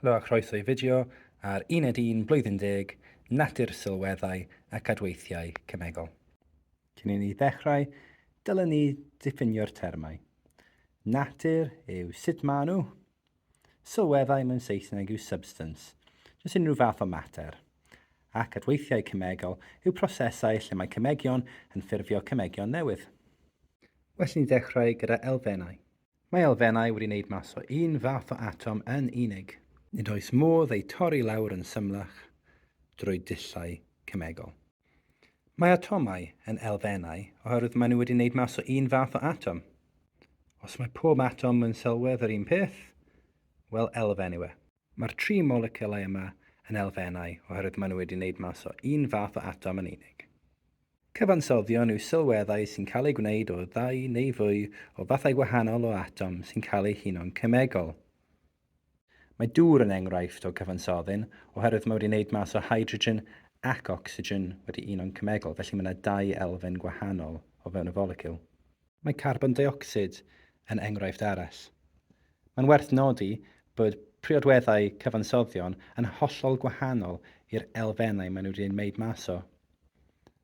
Helo a chroeso i fideo ar Uned Un Blwyddyn Deg, Natur Sylweddau ac Adweithiau Cemegol. Cyn i ni ddechrau, dylwn ni ddiffinio'r termau. Natur yw sut maen nhw. Sylweddau mewn Saesneg yw substance, jyst unrhyw fath o mater. Ac adweithiau cemegol yw prosesau lle mae cemegion yn ffurfio cemegion newydd. Well i ni ddechrau gyda elfennau. Mae elfennau wedi wneud mas o un fath o atom yn unig. Nid oes modd eu torri lawr yn symlach drwy dullau cemegol. Mae atomau yn elfennau oherwydd maen nhw wedi wneud mas o un fath o atom. Os mae pob atom yn sylwedd yr un peth, wel elfen yw e. Mae'r tri moleciwlau yma yn elfennau oherwydd maen nhw wedi wneud mas o un fath o atom yn unig. Cyfansoddion yw sylweddau sy'n cael eu gwneud o ddau neu fwy o fathau gwahanol o atom sy'n cael eu huno'n cemegol. Mae dŵr yn enghraifft o gyfansoddyn oherwydd mae wedi wneud mas o hydrogen ac ocsigen wedi uno'n cemegol, felly mae yna dau elfen gwahanol o fewn y foleciwl. Mae carbon deuocsid yn enghraifft arall. Mae'n werth nodi bod priodweddau cyfansoddion yn hollol gwahanol i'r elfennau maen nhw wedi eu wneud mas o.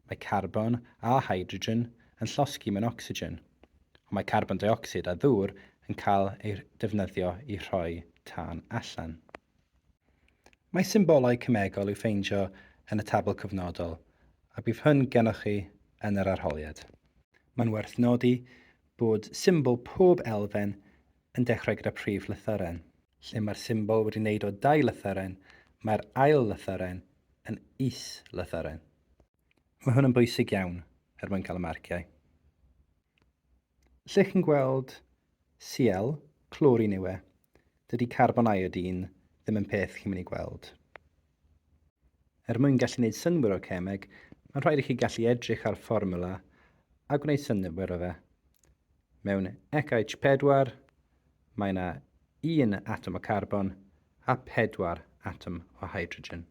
Mae carbon a hydrogen yn llosgi mewn ocsigen, ond mae carbon deuocsid a ddŵr yn cael eu defnyddio i rhoi tân allan. Mae symbolau cemegol i'w ffeindio yn y tabl cyfnodol a bydd hyn gennych chi yn yr arholiad. Mae'n werth nodi bod symbol pob elfen yn dechrau gyda prif lythyren. Lle mae'r symbol wedi wneud o dau lythyren, mae'r ail lythyren yn is-lythyren. Mae hwn yn bwysig iawn er mwyn cael y marciau. Lle chi'n gweld Cl, clorin yw e. Dydy carbon iodine ddim yn peth chi'n mynd i gweld. Er mwyn gallu gwneud synwyr o'r cemeg, mae'n rhaid i chi gallu edrych ar fformula a gwneud synwyr o fe. Mewn ECH4, mae yna un atom o carbon a pedwar atom o hydrogen.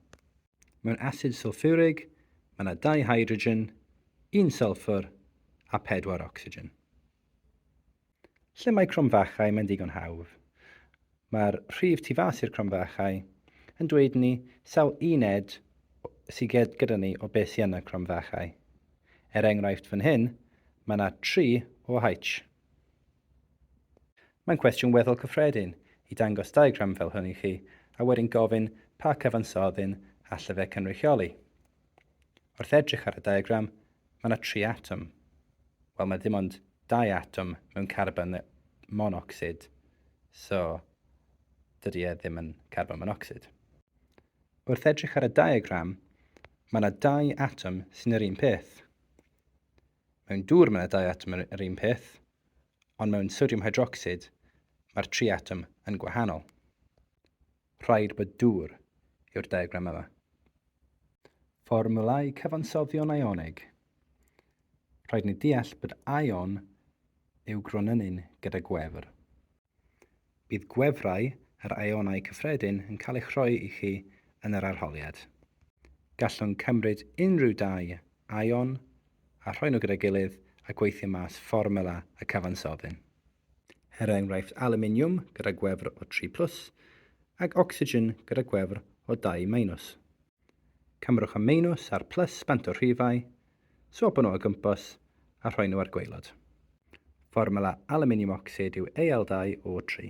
Mewn asid sylffwrig, mae yna dau hydrogen, un sylffwr a pedwar ocsigen. Lle mae cromfachau mae'n ddigon hawdd. Mae'r rhif tu fas i'r cromfachau yn dweud ni sawl uned sy gyda ni o beth sy yn y cromfachau. Er enghraifft fan hyn, mae yna 3 o H. Mae'n cwestiwn weddol cyffredin i dangos diagram fel hwn i chi a wedyn gofyn pa cyfansoddyn allai fe cynrychioli. Wrth edrych ar y diagram, Mae yna tri atom. Wel, mae dim ond dau atom mewn carbon monocsid, so dydy e ddim yn carbon monocsid. Wrth edrych ar y diagram, mae yna dau atom sy'n yr un peth. Mewn dŵr mae yna dau atom yr un peth, ond mewn sodiwm hydrocsid mae'r tri atom yn gwahanol. Rhaid bod dŵr yw'r diagram yma. Fformwlau cyfansoddion ionig. Rhaid ni deall bod ion yw gronynnu'n gyda gwefr. Bydd gwefrau yr ionau cyffredin yn cael eich rhoi i chi yn yr arholiad. Gallwn cymryd unrhyw dau ion a rhoi nhw gyda'i gilydd a gweithio mas fformwla y cyfansoddyn. er enghraifft alwminiwm gyda gwefr o 3 plus ac ocsigen gyda gwefr o 2 minus. Cymrwch y minus a'r plus bant o'r rhifau, swopio nhw o gwmpas a rhoi nhw ar gwaelod. Fformwla alwminiwm ocsid yw Al2O3.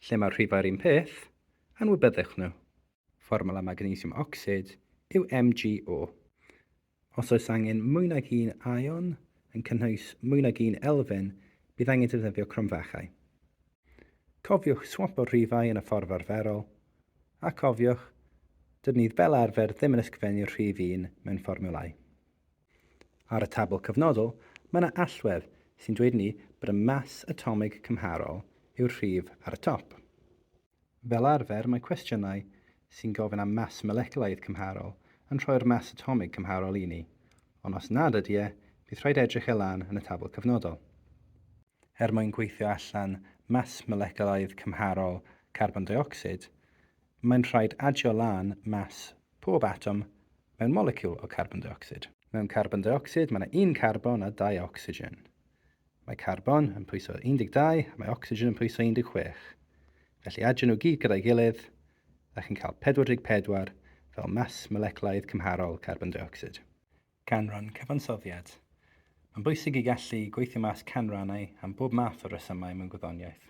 Lle mae'r rhifau'r un peth, anwybyddwch nhw. Fformwla magnesiwm ocsid yw MgO. Os oes angen mwy nag un aeon, yn cynnwys mwy nag un elfen, bydd angen defnyddio cromfachau. Cofiwch swapo'r rhifau yn y ffordd arferol, a chofiwch, dydyn ni fel arfer ddim yn ysgrifennu'r rhif un mewn fformiwlau. Ar y tabl cyfnodol, mae yna allwedd sy'n dweud i ni bod y mas atomig cymharol yw'r rhif ar y top. Fel arfer, mae cwestiynau sy'n gofyn am mas moleculaidd cymharol yn rhoi'r mas atomig cymharol i ni, ond os nad ydy e, bydd rhaid edrych e lan yn y tabl cyfnodol. Er mwyn gweithio allan mas moleculaidd cymharol carbon deuocsid, mae'n rhaid adio lan mas pob atom mewn moleciwl o carbon deuocsid. Mewn carbon deuocsid, mae yna un carbon a dau ocsigen. Mae carbon yn pwyso 12 a mae ocsigen yn pwyso 16. Felly adio nhw gyd gyda'i gilydd a chi'n cael 44 fel mas moleculaidd cymharol carbon deuocsid. Canran cyfansoddiad. Mae'n bwysig i gallu gweithio mas canrannau am bob math o resymau mewn gwyddoniaeth.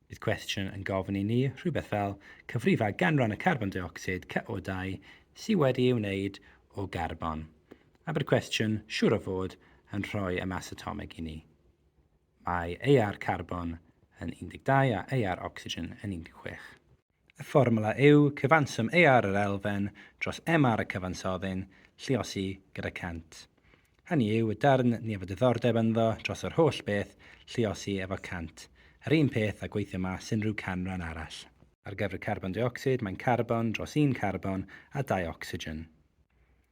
Bydd cwestiwn yn gofyn i ni rhywbeth fel, cyfrifa ganran y carbon deuocsid caeodau sydd wedi ei wneud o garbon, a bydd cwestiwn siŵr o fod yn rhoi y mas atomig i ni. Mae aer carbon yn 12 a aer ocsigen yn 16. Y fformwla yw cyfanswm AR yr elfen dros MR y cyfansoddyn lluosi gyda 100. Hynny yw, y darn ni efo diddordeb ynddo dros yr holl beth lluosi efo 100. Yr un peth â gweithio mas unrhyw canran arall. Ar gyfer carbon deuocsid, mae'n carbon dros un carbon a dau ocsigen.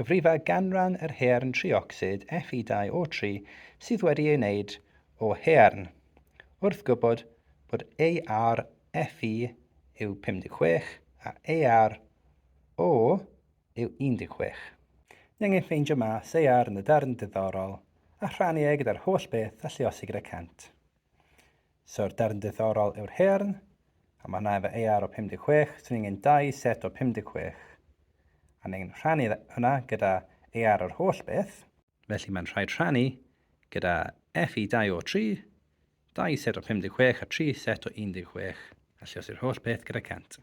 Cyfrifa ganran yr haearn triocsid Fe2O3 sydd wedi ei wneud o haearn, wrth gwybod bod AR Fe yw 56 a AR O yw 16. Ni angen ffeindio mass AR yn y darn diddorol a rhannu e gyda'r holl beth a lluosi gyda cant. So'r darn diddorol yw'r haearn, a mae hwnna efo AR o 56, swn i'n angen dau set o 56, a ni'n angen rhannu hwnna gyda AR yr holl beth, felly mae'n rhaid rhannu gyda FE 2 o 3, dau set o 56 a tri set o 16, a lliosi'r holl beth gyda 100.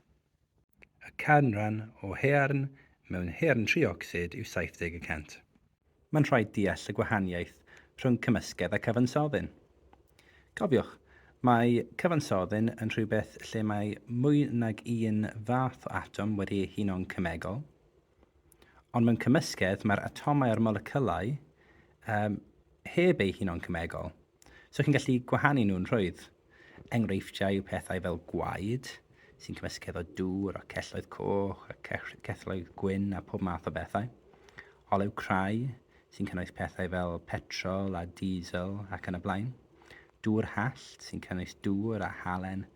Y canran o haearn mewn haearn triocsid yw 70 y cant. mae'n rhaid deall y gwahaniaeth rhwng cymysgedd a cyfansoddyn. Cofiwch, mae cyfansoddyn yn rhywbeth lle mae mwy nag un fath o atom wedi ei huno'n cemegol, ond mewn cymysgedd mae'r atomau a'r moleciwlau um, heb eu huno'n cemegol. So chi'n gallu gwahanu nhw'n rhwydd. Enghreifftiau yw pethau fel gwaed, sy'n cymysgu efo dŵr a celloedd coch a celloedd gwyn a pob math o bethau. Olew crai, sy'n cynnwys pethau fel petrol a diesel ac yn y blaen. Dŵr hallt, sy'n cynnwys dŵr a halen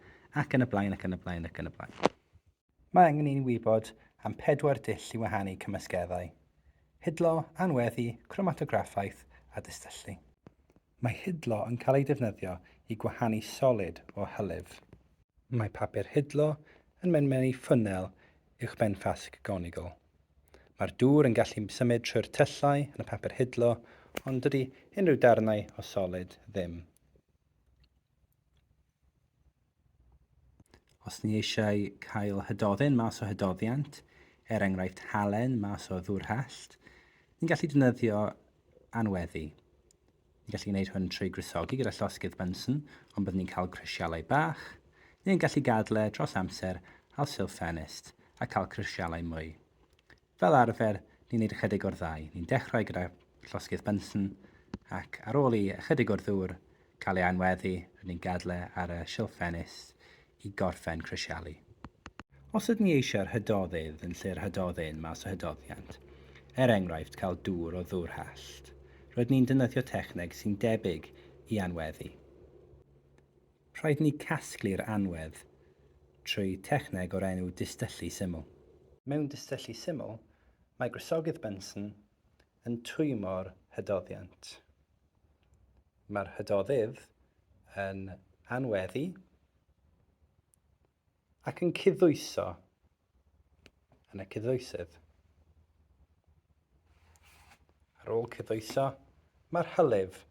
ac yn y blaen ac yn y blaen ac yn y blaen. Mae angen i ni wybod am pedwar dull i wahanu cymysgeddau, hidlo, anweddu, cromatograffaeth a distyllu. Mae hidlo yn cael ei defnyddio i gwahanu solid o hylif. Mae papur hidlo yn mynd mewn i ffwnnel uwchben ffasg gonigl. Mae'r dŵr yn gallu symud trwy'r tyllau yn y papur hidlo ond dydy unrhyw darnau o solid ddim. Os ni eisiau cael hydoddyn mas o hydoddiant, er enghraifft halen mas o ddwrhallt, ni'n gallu defnyddio anweddu. Ni'n gallu gwneud hwn trwy gwresogi gyda llosgydd Bunsen, ond byddwn ni'n cael crisialau bach, neu'n gallu gadle dros amser al silff ffenest a cael crisialau mwy. Fel arfer, ni'n neud ychydig o'r ddau. Ni'n dechrau gyda llosgydd Bunsen ac ar ôl i ychydig o'r ddŵr cael ei aenweddu, rydyn ni'n gadael e ar y silff ffenus i gorffen crisialu. Os ydyn ni eisiau'r hydoddeydd yn lle'r hydoddyn mas o hydoddiant, er enghraifft cael dŵr o ddŵr hallt, rydyn ni'n defnyddio techneg sy'n debyg i aenweddu. Rhaid ni casglu'r anwedd trwy techneg o'r enw distyllu syml. Mewn distyllu syml, mae gwresogydd Bunsen yn twymo'r hydoddiant. Mae'r hydoddydd yn anweddu ac yn cuddwyso yn y cyddoesydd. Ar ôl cyddoeso, mae'r hylif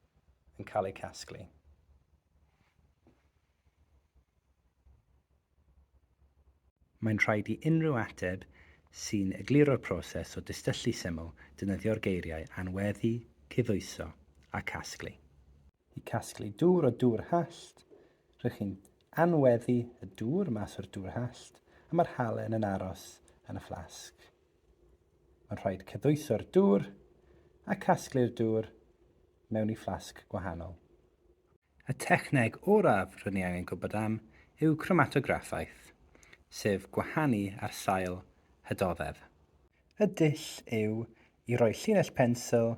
yn cael eu casglu. Mae'n rhaid i unrhyw ateb sy'n egluro'r proses o dystyllu syml defnyddio'r geiriau anweddu, cyddoeso a casglu. i casglu dŵr o dŵr hallt, rhych chi'n anweddu y dŵr mas o'r dŵr hallt a mae'r halen yn aros yn y fflasg. Mae'n rhaid cydwyso'r dŵr a casglu'r dŵr mewn i fflasg gwahanol. Y techneg oraf rydyn ni angen gwybod am yw cromatograffaeth, sef gwahanu ar sail hydoddedd. Y dull yw i roi llinell pensil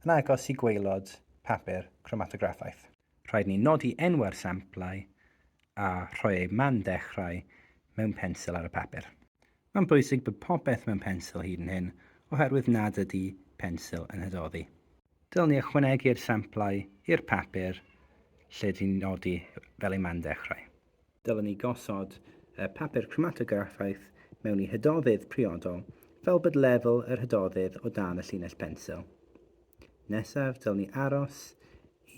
yn agos i gwaelod papur cromatograffaeth. Rhaid ni nodi enwau'r samplau a rhoi eu man dechrau mewn pensil ar y papur. Mae'n bwysig bod popeth mewn pensil hyd yn hyn oherwydd nad ydy pensil yn hydoddi. Dylwn ni ychwanegu'r samplau i'r papur lle dyn ni'n nodi fel eu man dechrau. Dylem ni gosod y papur cromatograffaeth mewn i hydoddydd priodol fel bod lefel yr hydoddydd o dan y llinell bensil. Nesaf, dylem ni aros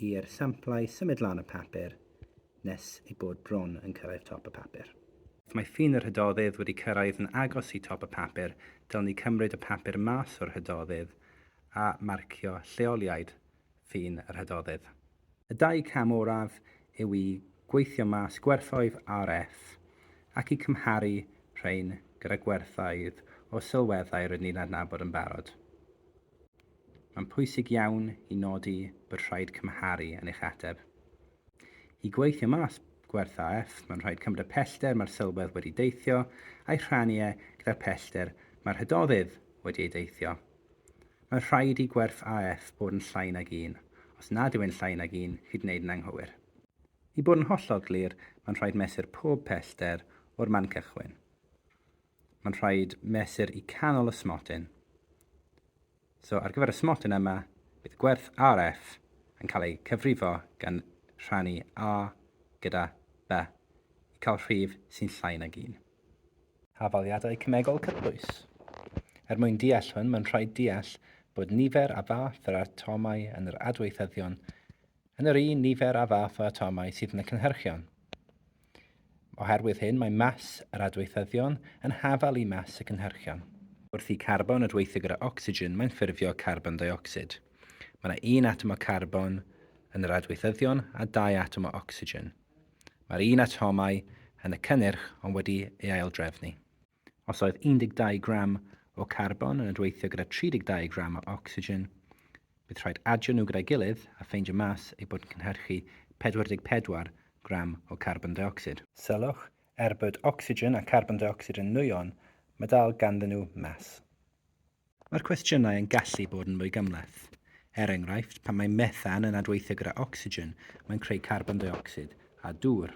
i'r samplau symud lan y papur nes ei bod bron yn cyrraedd top y papur. Os mae ffin yr hydoddydd wedi cyrraedd yn agos i top y papur, dylem ni cymryd y papur mas o'r hydoddydd a marcio lleoliad ffin y rhydoddydd. Y dau cam oraf yw i gweithio mas gwerthoedd RF ac i cymharu rhain gyda gwerthoedd o sylweddau rydyn ni'n adnabod yn barod. Mae'n pwysig iawn i nodi bod rhaid cymharu yn eich ateb. I gweithio mas gwerth AF, mae'n rhaid cymryd y pellter mae'r sylwedd wedi deithio a'i rhannu e gyda'r pellter mae'r rhydoddydd wedi ei deithio. Mae'n rhaid i gwerth AF bod yn llai nag un. Os nad yw e'n llai nag un, chi'n gwneud yn anghywir. I bod yn hollol glir, mae'n rhaid mesur pob pellter o'r man cychwyn. Mae'n rhaid mesur i canol y smotyn. So, ar gyfer y smotyn yma, bydd gwerth RF yn cael ei cyfrifo gan rhannu A gyda B i cael rhif sy'n llai nag un. hafaliadau cemegol cyffrous. Er mwyn deall hwn, mae'n rhaid deall bod nifer a fath yr atomau yn yr adweithyddion yn yr un nifer a fath o atomau sydd yn y cynhyrchion. Oherwydd hyn, mae mas yr adweithyddion yn hafal i mas y cynhyrchion. Wrth i carbon adweithio gyda ocsigen, mae'n ffurfio carbon deuocsid. Mae yna un atom o carbon yn yr adweithyddion a dau atom o ocsigen. Mae'r un atomau yn y cynnyrch ond wedi ei aildrefnu. Os oedd 12 gram o carbon yn adweithio gyda 32 gram o ocsigen, bydd rhaid adio nhw gyda'i gilydd a ffeindio mas eu bod yn cynhyrchu 44 gram o carbon deuocsid. Sylwch, er bod ocsigen a charbon deuocsid yn nwyon, mae dal ganddyn nhw mas. Mae'r cwestiynau yn gallu bod yn fwy gymhleth. Er enghraifft, pan mae methan yn adweithio gyda ocsigen, mae'n creu carbon deuocsid a dŵr.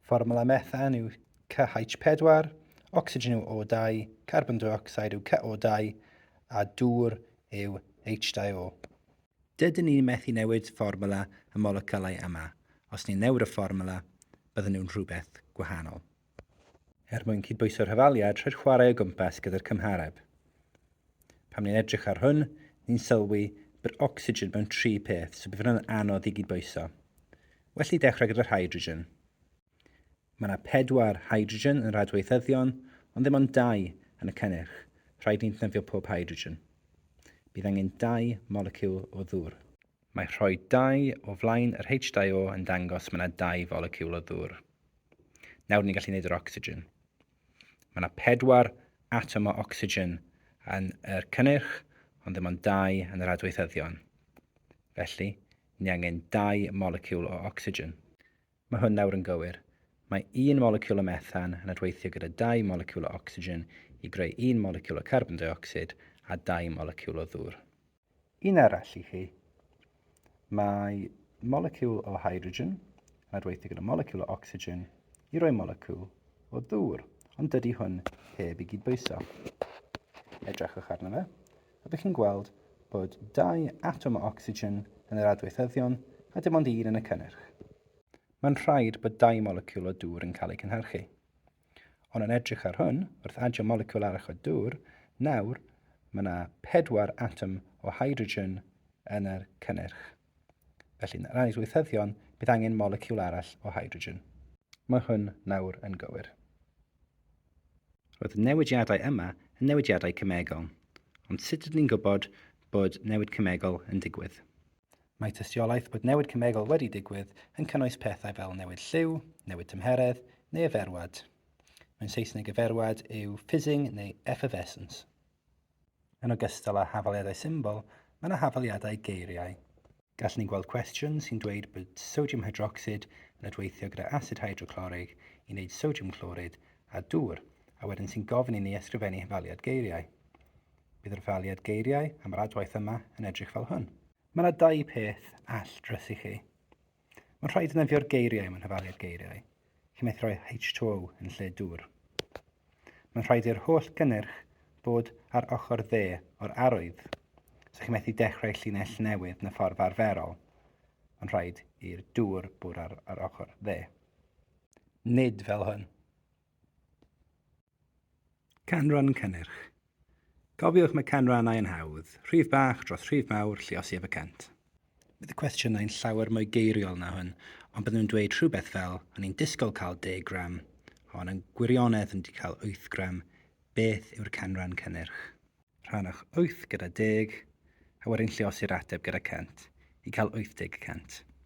Fformwla methan yw CH4, ocsigen yw O2, carbon deuocsid yw CO2 a dŵr yw H2O. Dydyn ni methu newid fformwla y moleciwlau yma, os ni'n newid y fformwla, bydden nhw'n rhywbeth gwahanol. er mwyn cydbwyso'r hafaliad rhag chwarae o gwmpas gyda'r cymhareb. Pan ni'n edrych ar hwn, ni'n sylwi bod ocsigen mewn tri peth, so bydd hwnna'n anodd i gydbwyso. Well i dechrau gyda'r hydrogen. Mae yna pedwar hydrogen yn yr adweithyddion, ond ddim ond dau yn y cynnyrch. Rhaid ni'n tnyddio pob hydrogen. Bydd angen dau moleciwl o ddŵr. Mae rhoi dau o flaen yr H2O yn dangos mae yna dau foleciwl o ddŵr. Nawr ni'n gallu gwneud yr ocsigen. Mae yna pedwar atom o ocsigen yn yr cynnyrch, ond ddim ond dau yn yr adweithyddion. Felly, ni angen dau moleciwl o ocsigen. Mae hwn nawr yn gywir. Mae un moleciwl o methan yn adweithio gyda dau moleciwl o ocsigen i greu un moleciwl o carbon deuocsid a dau moleciwl o ddŵr. Un arall i chi. Mae moleciwl o hydrogen yn adweithio gyda moleciwl o ocsigen i roi moleciwl o ddŵr, ond dydy hwn heb i gydbwyso. Edrychwch arno fe, a bych chi'n gweld bod dau atom o ocsigen yn yr adweithyddion a dim ond un yn y cynnyrch. Mae'n rhaid bod dau moleciwl o dŵr yn cael eu cynhyrchu. Ond yn edrych ar hwn, wrth adio moleciwl arall o dŵr, nawr mae yna pedwar atom o hydrogen yn yr cynnyrch. Felly, yn yr ail weithyddion, bydd angen moleciwl arall o hydrogen. Mae hwn nawr yn gywir. Roedd y newidiadau yma yn newidiadau cemegol, ond sut ydyn ni'n gwybod bod newid cemegol yn digwydd? Mae tystiolaeth bod newid cemegol wedi digwydd yn cynnwys pethau fel newid lliw, newid tymheredd, neu eferwad. Mewn Saesneg eferwad yw fizzing neu effervescence. Yn ogystal â hafaliadau symbol, mae yna hafaliadau geiriau. Gallwn ni weld cwestiwn sy'n dweud bod sodiwm hydrocsid yn adweithio gyda asid hydroclorig i wneud sodiwm clorid a dŵr, a wedyn sy'n gofyn i ni ysgrifennu hafaliad geiriau. Bydd yr etholiad geiriau am yr adwaith yma yn edrych fel hwn. Mae yna dau peth all drysu chi. Mae'n rhaid defnyddio'r geiriau mewn hyfaliad geiriau, lle mae'n rhoi H2O yn lle dŵr. Mae'n rhaid i'r holl gynnyrch bod ar ochr dde o'r arwydd, so chi methu dechrau llinell newydd yn y ffordd arferol. Mae'n rhaid i'r dŵr bod ar, ar ochr dde. Nid fel hyn. Canran cynnyrch. Cofiwch mae canrannau yn hawdd, rhif bach dros rhif mawr, lluosi ef y cant. Bydd y cwestiynau yn llawer mwy geiriol na hwn, ond byddwn yn dweud rhywbeth fel, o'n i'n disgwyl cael 10 gram, ond yn gwirionedd yn di cael 8 gram, beth yw'r canran cynnyrch? Rhannwch 8 gyda 10, a wedyn lliosi'r ateb gyda 100, i cael 80 y cant.